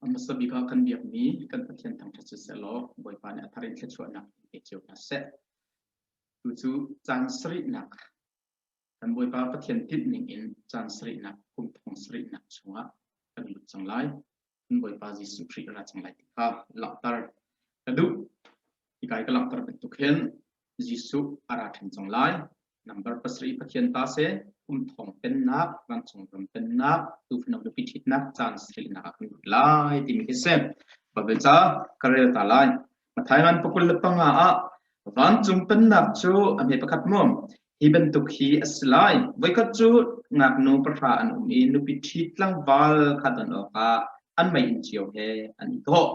A hmasa bik ah kan biakmi kan Pathian thangṭhat sisehlaw Bawipa nih a thar in thluachuahnak pe cio hna seh. Tucu caan sarihnak kan Bawipa Pathian tinh ning in caan sarihnak kum thong sarihnak chungah kan lut cang lai. Kan Bawipa Jesuh Khrih ra cang lai ti kha langhter ka duh. Hi kai ka langhter bantuk hin Jesuh a ra ṭhan cang lai. Number pasarih Pathian ta se, kum thong pennak, vancung ram pennak, tuufano biapi ṭhitnak, caan silnak a kan lai timi khi si. Babe ca ka rel ta lai. Thailand pakul le panga ah vancung pennak cu a hme pakhat mu. Hi bantuk hi a si lai. Voikhat cu ngaknu pahra an um i nupi ṭhi tlangval khat an awkah an mei in cio he an i thawh.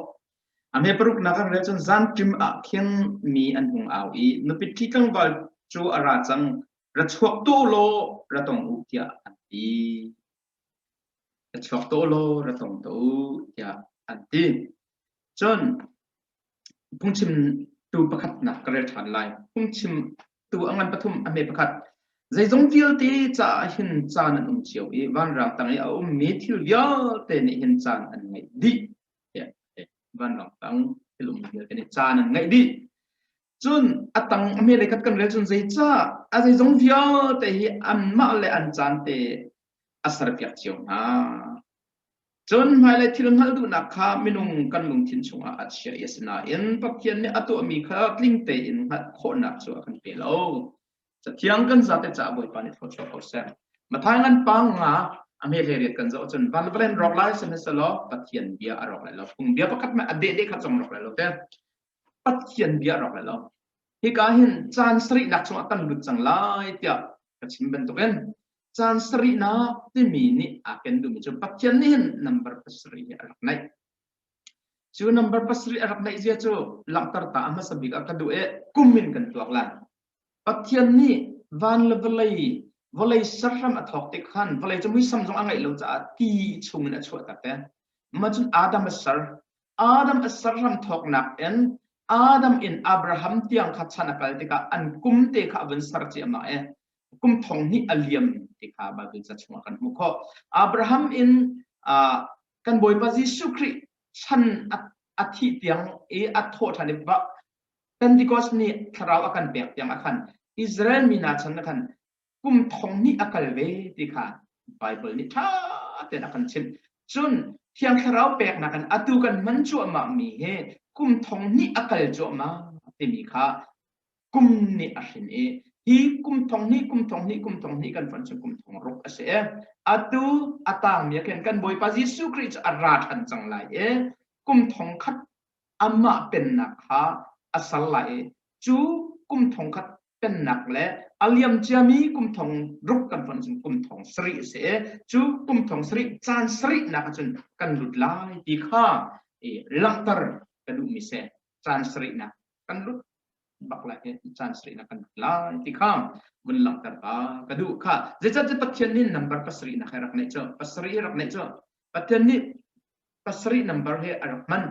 A hme paruknak an rel cun zanṭim ah khin mi an hung au i nupi ṭhi tlangval cu a ra cang ra chuak tu law ra tong u tiah an ti. Ka chuak taw law ra tong tuah u tiah an ti. Cun phungchimtu pakhatnak ka rel ṭhan lai. Phungchimtu a ngan pathum a hme pakhat, zeizong vialte caah hin caan an um cio i vanrang tang i a ummi thil vialte nih hin caan an ngeih dih. Tiah a ti. Vanrang tang thil um vialte nih caan an ngeih dih. Cun a tang a hme lei khat kan rel cun zeicah a zeizong vialte hi anmah le an caan te a serpiak cio hna. Cun hmailei thil hngalh duhnak kha minung kan lungthin chungah a chia i asinain Pathian nih a tuahmi kha tling tein hngalh khawhnak cu a kan pe lo. Cathiang kan zate caah Bawipa nih thlaw ko seh. Mathai ngan panga a hme le riat kan zoh cun van valen rawk lai sehne selaw Pathian bia a rawk lai lo. Phung bia pakhat me a deh de kha cong rawk lai lo te. Pathian bia rawk lai lo. Hika hin caan sarihnak chungah kan lut cang lai tiah ka chim bantukin caan sarihnak timi nih aa ken duhmi cu Pathian nih hin number pasarih hi a rak naih. Cu number pasarih a rak naih zia cu langhter ta a hmasa bik ah ka duh i kum in kan tuak lai. Pathian nih van le vawlei, vawlei serhram a thawk te khan vawlei cu muisam zong a ngeih lo caah ti chungin a chuahtak te. Macun Adam a ser. Adam a serhram thawknak in Adam in Abraham tiang kha chan a kal tikah an kum te kha a vun ser ciahmah i kum thong hnih a liam ti kha Baibal ca chungah kan hmuh khawh. Abraham in ah, kan Bawipa Jesuh Khrih chan a, a thih tiang i a thawh ṭhan i Pentecost ni thlarau a kan pek tiang ah khan Israel mi hna chan ah khan kum thong hnih a kal ve ti kha Baibal nih ṭha tein a kan chimh. Cun Thiang Thlarau peknak in atu kan hman cuahmah mi hi kum thong hnih a kal cuahmah timi kha kum nih a hrin i hi kum thong hnih kum thong hnih kum thong hnih kan hman cu kum thong ruk a si e. Atu a tangmi ah khin kan Bawipa Jesuh Khrih cu a ra ṭhan cang lai i kum thong khat Amah pennak kha a ser lai i cu kum thong khat pennak le a liam ciami kum thong ruk kan fonh cun kum thong sarih a si i cu kum thong sarih caan sarihnak ah cun kan lut lai ti kha i langhter ka duhmi seh caan sarihnak kan lut bak lai i caan sarihnak kan lut lai ti kha vun langhter ka ka duh kha zeicah cu pathian nih nambar pasarihnak he rak neih cu pasarih rak neih cu Pathian nih pasarih nambar he a rak hman.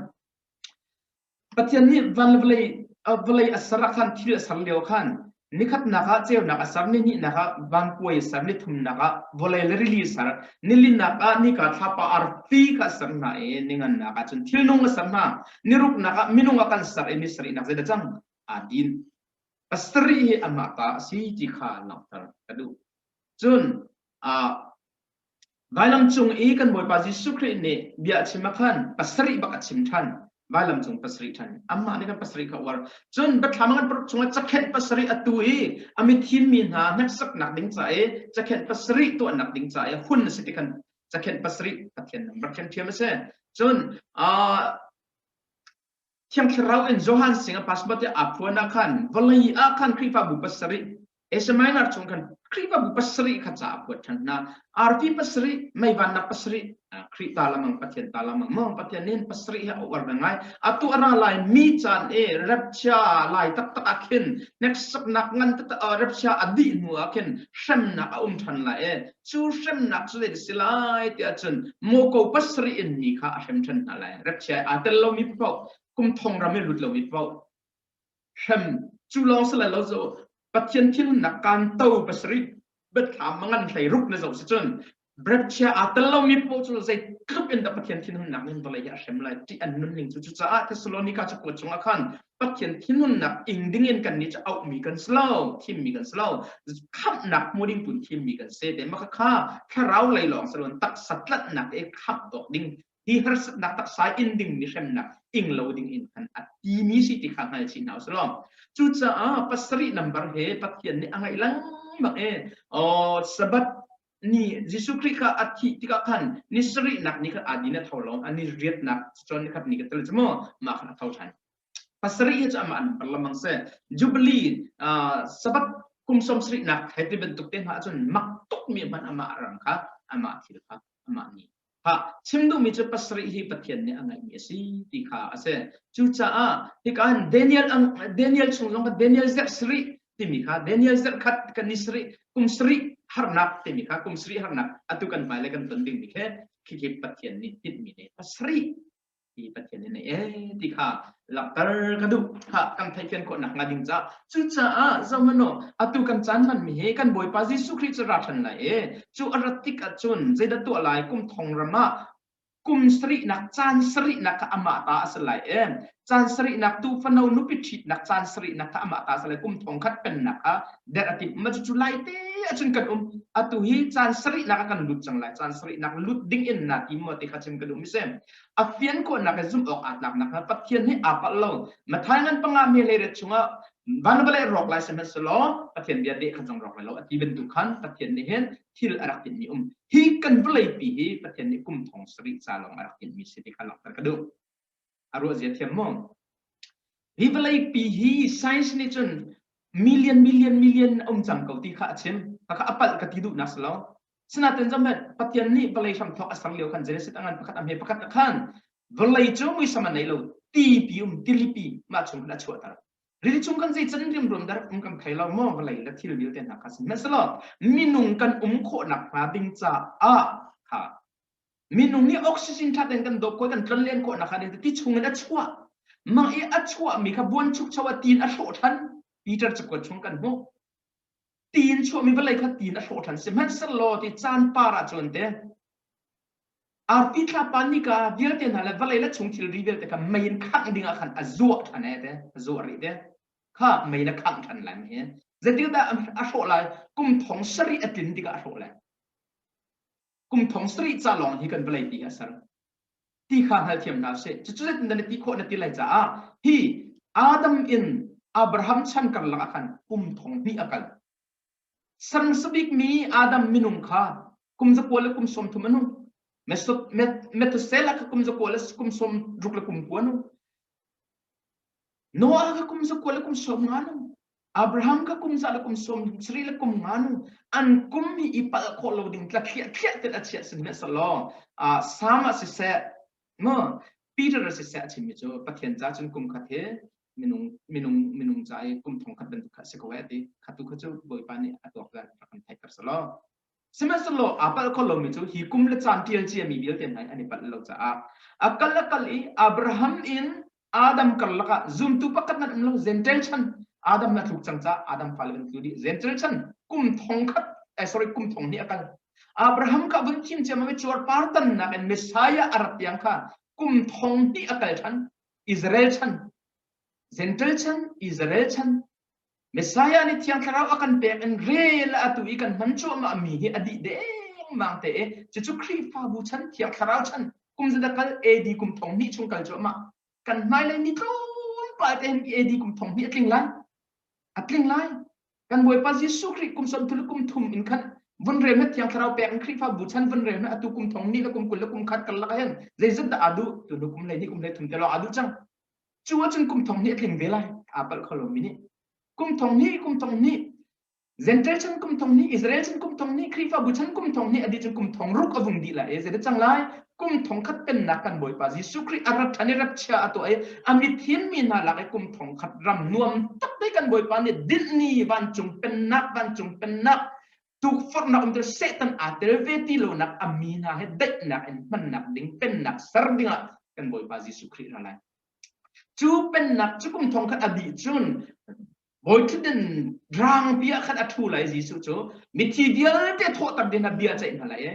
Pathian nih van vawlei vawlei a ser ah khan thil a ser lio khan nikhatnak ah ceunak a ser ni hnihnak ah vangpuai a ser ni thumnak ah vawlei le rili a ser nilinak ah nika thlapa arfi kha a ser hna i ningannak ah cun thilnung a ser hna niruknak ah minung a kan ser i misarihnak zeidah cang aa din pasarih hi amah ta a si ti kha langhter ka duh cun ah Vailam cung i kan Bawipa Jesuh Khrih nih bia a chim ah khan pasarih bak a chim ṭhan. Vailam cung pasarih ṭhan. Amah nih kan pasarih kha a uar. Cun Bethlehem ngan chungah cakhenh pasarih a tu i a mithim mi hna hneksaknak ding ca i cakhenh pasarih tuahnak ding ca i hun a si ti khan cakhenh pasarih Pathian ram rak thiamthiam a si. Cun aa Thiang thlarau in Johan sing a pasma te a phuan ah khan vawlei ah khan Khrihfabu pasarih Eseminar chung khan Khrihfabu pasarih kha ca a phuat ṭhan hna arfi pasarih meivannak pasarih Khrih ta lamang Pathian ta lamang maw Pathian nin pasarih hi a uar ve ngai atu ara lai mi caan e rapchia lai taktak ah khin hneksaknak ngan taktak rapchia a dih hnu ah khin hremnak a um ṭhan la e cu hremnak cu zeidah si lai tiah cun muko pasarih in mi kha a hrem ṭhan hna lai rep chia aa tel lomi paoh kum thong ram i lut lomi paoh hrem cu lawng si lo zo pathian thilnak kan to pasarih betthlam mangan hlei ruk na zo si cun brepchia aa tel lomi paoh cu zei tluk in da pathian thinhunnak ning vawlei hi a hrem lai ti an nun ning cu cucaah thessalonika cu kuat chungah khan Pathian thinhunnak ing dingin kan nih auhmi kan si lo, thimmi kan si lo. Khamhnak hmu ding tun thimmi kan si. Te maka kha thlarau lei lawng salon taksa tlatnak e khamh dok ding hi harsatnak taksa in ding ni hremnak ing lo ding in kan ati mi si ti kha hngal chin hau salom. Cucaah pasari number he Pathian nih a ngai lang bak e. Oh sabat nih Jesuh Khrih kha a thih tikah khan ni sarihnak ni khan aa din a tho lo a ni riatnak cun ni khat ni khat tel cu maw mah khan a tho ṭhan pasarih hi cu amah an par lamang se Jubilee uh, Sabbath kum sawm sarihnak thai ti bantuk te hma ahcun mak tuk mi hmanh amah rang kha amah thil kha amah nih chim duhmi cu pasarih hi Pathian nih a ngeihmi a si ti kha a si. Cucaah hika hin Daniel, Daniel chung zong kha Daniel zarh sarih timi kha Daniel zarh khat kan ni sarih kum sarih harnak timi kha kum sarih harnak atu kan hmailei kan ton dingmi khi khi Pathian nih tinhmi ne pasarih ti Pathian in eh ti kha langhter ka duh ha kan theihfian khawh nak hnga ding ca cucaah zohmano atu kan caan man mi hi kan bawipa Jesuh Christ ra than lai e cu arat tik ahcun zeidah tuah lai kum thong ramah kum sari nak caan sari nak kha amah ta a si lai e caan sari nak tu fano nupi thit nak caan sari nak kha amah ta a si lai kum thong khat pen nak kha der ati ma cu lai te acun kan um atu hi caan sari nak kan lut cang lai caan sari nak lut ding in na ti mo ti kha chim ka dum se a fiankuannak he zumh awk aa tlak nakhnga Pathian he aa palh lo. Matthai ngan panga me leiret chungah van vale rawk lai sihmanhsehlaw Pathian bia deh kha zong rawk lai lo a ti bantuk khan Pathian nih hin thil a rak timhmi um hi kan vawleipi hi Pathian nih kum thong sarih ca lawng a rak timhmi si ti kha langhter ka duh a ruahzia thiam maw hi vawleipi hi science nih cun million million million a um cang ko ti kha a chim khakha a palh ka ti duhnak si lo Sinatin zahmet Pathian nih vawlei hramthawk a sang lio khan Genesis a ngan pakhat a hme pakhat a khan vawlei cu muisam a nei lo tipi um tilipi mah chung in a chuahter rili chung kan zeican rimrum dar um kan thei lo maw vawlei le thil vialte hna kha sihmanhsehlaw minung kan um khawhnak hnga ding caah ha minung nih oxygen that in kan dawp ko kan tlon len khawhnak kha ti chung in a chuah mang i a chuah mi kha buan chuk chawa tin a hlawh than Peter cu chung kan hmuh tiin chuahmi vawlei kha tiin a hlawhṭhan si. Hmanhsehlaw ti caan par ahcun te arpi thlapa nika vialte hna le vawlei le chung thilri vialte kha mei in khangh ding ah khan a zuah ṭhan e te a zuah rih te kha mei na khangh ṭhan lai mi hi zeitikah dah a hlawh lai kum thong sarih a tlin tikah a hlawh lai kum thong sarih ca lawng hi kan vawlei pi a ser ti kha hngalthiam hna seh cucu zetin dah na ti khawh na ti lai caah hi adam in abraham chan karlak ah khan kum thong hnih a kal sangsabik mi adam minung kha kum zakual le kum sawm thum anu Methuselah ka kum zakual le kum sawm ruk le kum kua nu Noah ka kum zakual le kum sawm nga nu Abraham ka kum za le kum sawm sari le kum ngan an kum hi i palh khawh lo ding tla thliah thliah tel a chia sin ne salo a sam a siseh ngo Peter a siseh a chimmi cu Pathian ca cun kum khat hi minung minung minung ca i kum thong khat bantuk kha si ko ti khatu kha cu bawipa nih a tuak rak kan theih kar salo Sihmanhsehlaw aa palh kho lomi cu hi kum le caan ṭialci a mi vialte hna hi an i palh lo caah a kal a kal i Abraham in Adam karlak ah zumtu pakhat nan um lo Gentel chan Adam na tluk cang ca Adam fale kan tlu dih Gentel chan kum thong khat eh, sorry kum thong hnih a kal Abraham kha vun thim ciam mi cuar par tannak in Messiah a rat tiang kha kum thong hnih a kal than Israel chan Gentel chan Israel chan Messiah nih Thiang Thlarau a kan pek in rel atu i kan hman cuahmahmi hi a dih dengmang te i cucu Khrihfabu chan, Thiang Thlarau chan, kum zeta kal AD kum thong hnih chung kal cuahmah. Kan hmailei mi tlawmpal te hin AD kum thong hnih a tling lai. A tling lai. Kan Bawipa Jesuh Khrih kum som thulu kum thum in khan vun rem he Thiang Thlarau pek in Khrihfabu chan vun rem he atu kum thong ni le kum kul le kum khat kal lak hin zeizat dah adu tu lu kum lei ni kum lei thum te lawng adu cang. cu ahcun kum thong hnih a tling ve lai aa palh kho lomi nih kum thong hnih kum thong hnih Zentail chan kum thong hnih Israel chan kum thong hnih Khrihfabu chan kum thong hnih adi cu kum thong ruk avung di la e zede chang lai kum thong khat pennak kan boipa Jesu Khrist arat thani rat chia ato e amit hin mi na lak e kum thong khat ram nuam tak dei kan boipa ni din ni van cung pennak van cung pennak tukforhnak um cun Satan aa tel ve ti lonak a mi hna he daihnak in hmannak ding pennak ser dingah kan Bawipa Jesuh Khrih ra lai. Cu pennak cu kum thong khat a dih cun bawiṭhuten rangpi ah khat a ṭhu lai Jesuh cu mithi vialte thawhter ding a bia ceih hna lai e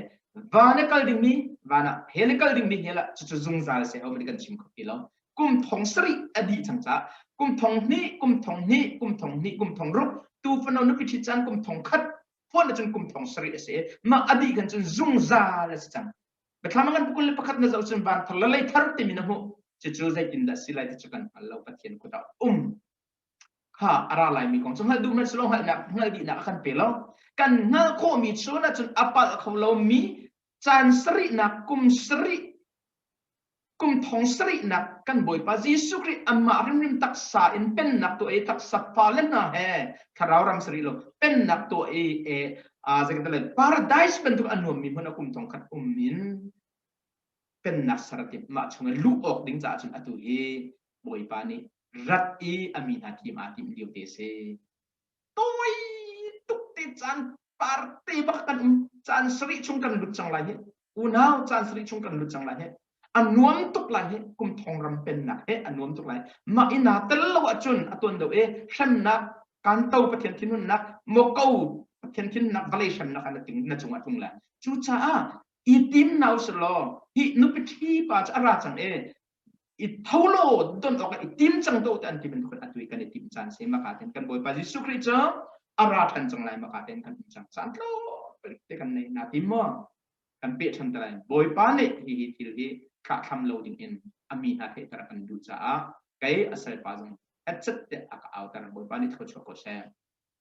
van e kal dingmi van ah he le kal dingmi he lah cucu zungzal se a um kan chim kho ti lo kum thong sarih a dih cang ca kum thong hnih kum thong hnih kum thong hnih kum thong ruk tu fano nupi ṭhi caan kum thong khat phuan cun kum thong sarih a si mah a dih kan cun zungzal a si cang Bethlama kan pukul le pakhat na zau cun van thar la lei thar timi na hmu cucu zeitin dah si lai ti cu kan hngal lo pathian khuta um kha ara lai mi kong cu hngal duh man silo hngal nak hngal di nak kan pe lo kan hngal kho mi chu na cun apal kho lo mi caan sarihnak kum sarih kum thong sarihnak kan Bawipa Jesuh Khrih amah rimrim taksa in pennak tu ei taksa fale hna he thlarau ram sari lo pennak tu ei e a zakata le paradise bantuk an nuammi hmun a kum thong khat um in pennak sarati mah chungin luh awk ding caah cun atu i Bawipa nih rat i a mi hna tim aa tim lio te si tawi tuk te caan party bak kan caan sarih chung kan lut cang lai hi unau caan sarih chung kan lut cang lai hi a nuam tuk lai hi kum thong ram pennak he a nuam tuk lai mah i na tel lo ahcun a tuan do e hrannak kan to pathian thinhunnak moko pathian thinhnak vale hrannak na ting na cung a tlung lai cu caah i tim nau selaw hi nupi thi pa cu a ra cang e i tho law don awk i tim cang do te an ti bantuk atu kan i tim caan se maka ten kan bawipa Jesuh Christ cu a ra than cang lai maka ten kan tim cang caan tlo te kan nei na tim mo kan pe than talai bawipa ne hi hi thil hi thla thlam lo ding in ami hna the tara kan du cha a kai asal pa zong atchet te aka autar bawipa ni tho cho ko se